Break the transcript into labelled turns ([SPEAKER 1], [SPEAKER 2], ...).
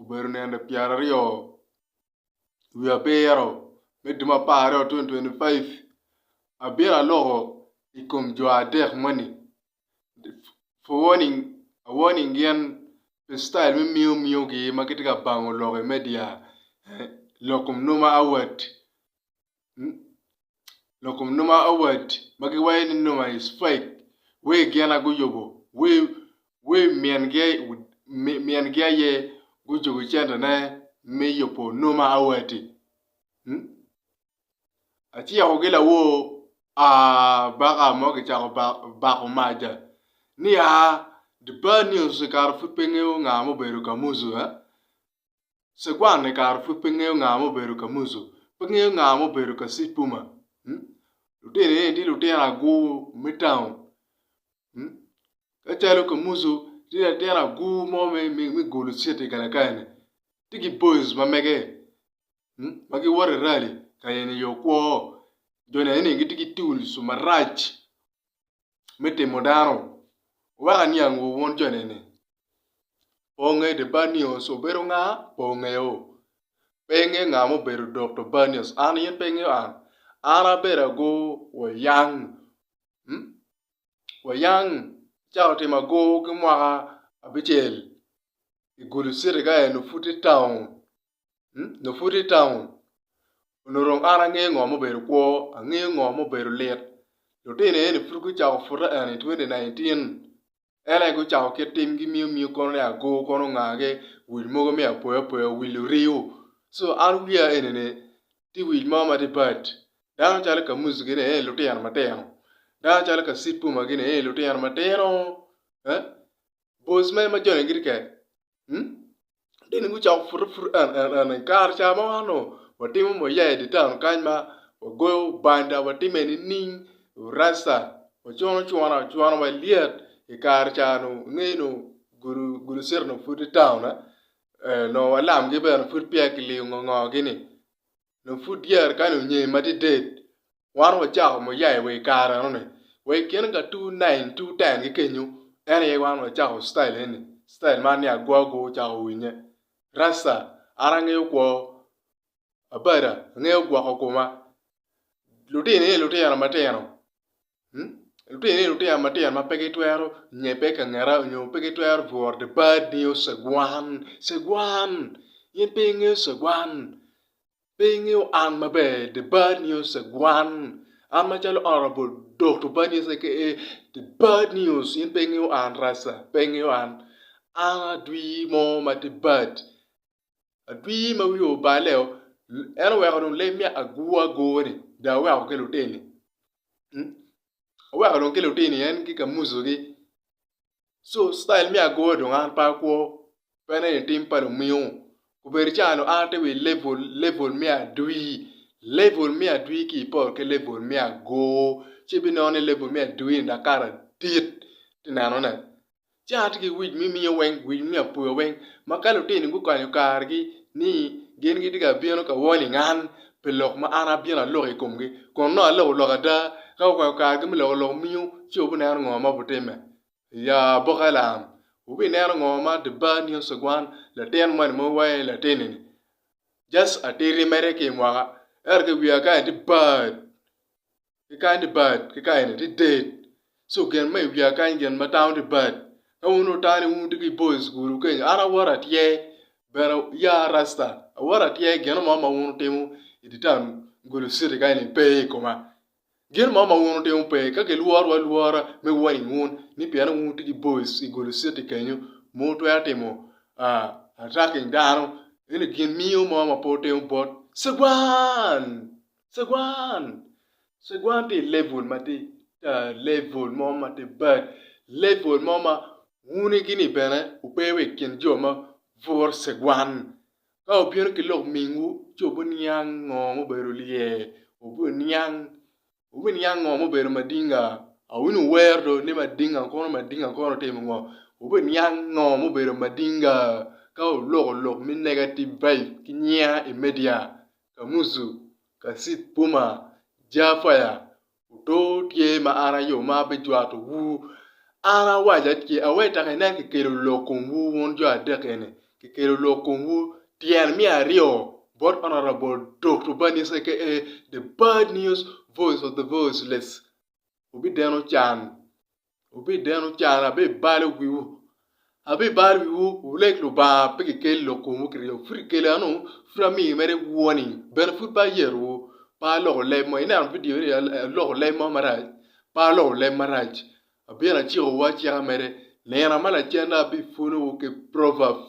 [SPEAKER 1] obedo nende pyeraryo wiye abiro me dwe me apar aryo twenty twenty five abino aloko i kom jo adek moni for warning a warning gin pi citail me miyo miyogi ma gitye ka bango lok i media lok kom nongo ma awat lokom numa award ma giwaco ni numa is fake wee gin a guyubo wee min gi aye gucuku center ne me yubo numa award ti aciko gi lawor aa baka mo kicako bako maca ni aa the bad news kare pud pe ngeyo nga ma obedo kamuzu. Cegwan-ni kara pud pe ngeyo nga ma obedo Kamuzu, pe ngeyo nga ma obedo Kasipuma. Lutino eni tye lutino agur me taun. Kacalo Kamuzu tye latin agur mo me gulu citi i Galakaya-ni, tye ki boys ma mege ma giwoto i rali ka yenyo yo kwo. Jone eni gitye ki tuls marac me timo dano. Weko aniangwu wun jo neni, pe wungeyo ni Banius obedo nga? Pe wungeyo? Pe ingeyo nga ma obedo Dokto Banius? An in pe ingeyo an? An abedo agur wa yang, wa yang acako timo agur ki mwaka abicel i Gulu Citi ka en pud tye taun. nyo pud i taun onongo dong an angeyo ngo mubedo kwo angeyo ngo mubedo lit lutino eni pud gucako pute eni i twenti naintin en aye gucako kit timgi miyo miyo kono ni ago kono ongagi wil mogo me apoya poya wil oriyo so an wiya enini tye wil mo ma tye bad dano calo kamuzi gini eni lutino matino dano calo kacito ma gini eni lutino matino. Boys mere ma joni gitye kene mm dini gucako pute pute en en en en kare ca ma wan onongo watimo muya i di town kany ma wagoyo banda watime nining rasta wacuno cuna ocwano wa lyet i kare ca nu ingeyo nu gudo gudo city onongo pud tye town-na onongo walamgi bene pud peya kiliyo ngo ngo gi ni dong pud dyere kani onyee madided wan wacako muyaye wa i kare enoni wa i kine ka two nine two ten ki kenyo en aye wan wacako style eni style man ni agwa agwa wucako winye rasta an angeyo kwo abada angeyo gwoko koma lutino aye lutino matino Lutini, lutino matino ma pe gitwero nyebbe ka ngeta nyo pe gitwero bworo the bad news cegwan, cegwan in pe ingeyo cegwan, pe ingeyo an maber the bad news cegwan, an macalo honorable Dokto bad news aka the bad news in pe ingeyo an rasa, pe ingeyo an, an adwir mo ma tye bad. Adwir ma wiye oballe-o, en oweko dong leb me agur agur-ni dong oweko ki lutini. Oweko dong ki lutini en tye ka muzogi. Co citail me agur dong an pe akwo, pe aneno i tim pa lumingu. Obedo canga dong an atye wa i levul, levul me adwir. Levul me adwir ki iporo ki levul me agur ci ibinongo ni levul me adwir-ni dong kato adit, ite nenone. ci an atye ki wic me miyo weng, wic me miyo apuya weng ma ka lutini gukanyo kargi ni gin gitye ka bino ka warning an pi lok ma an abino aloko i komgi kun nongo aloko lok ada. Ka gukanyo kargi me loko lok miu ci wubineno ngo ma bitimme. Ya aboka lam, wubineno ngo ma the bad news of one latin moni ma wawaco ni latini-ni just atiti mere ki i mwaka ento ki wiye kany tye bad. ki kany libat ki kayene tye date so gin ma iwiya kany gin ma tamo libat ka wun otane wun wutye ki boys school wu kenyo an awoto atye bene ya rasta awoto atye gin mo ma wun wutimo idi town gulu city kayeni pe ikoma gin mo ma wun wutimo pe ka kilworowa alwora me warning wun ni pien wun wutye ki boys i gulu city kenyo ma wutwero timo atacking dano ento gin mingo mo ma pe wutimo bot cwan. Cegwan, cegwan tye i level ma tye tar, level mo ma tye bad, level mo ma wun igini bene wupe wa i kin jo ma bwuro cegwan. Ka wubino ki lok mingwu ci wubiniang ngo ma obedo lye, wubiniang, wubiniang ngo ma obedo madinga. A wun wuwero dong ni madinga kono madinga kono otimo ngo, wubiniang ngo ma obedo madinga ka wuloko lok me negative vibe ki nyiya i media. Kamuzu, Kasip Puma, Jafaya, Oto tye ma an aye ma abijwato wu. An awaca ce aweta ki nen kikelo lok kom wu wun jo adek eni, kikelo lok kom wu tyen miya aryo bot Honourable Doctor Banis aka the bad news voice of the voiceless, wubideno can. Wubideno can, abibalo wiwu. Abibalo wiwu, wuleg Lubanga, pe kikeli lok komwu ki ryeko. Pud ikela anu, pud amiyo mere iwuwoni. Bene pud pe ayerowu, pe aloko leb mo. Ineno vidio ni, aloko leb mo marac? Pe aloko leb marac. Abino acikowu acika mere. Nino ma lacen-na abipwonowu ki Proverbs.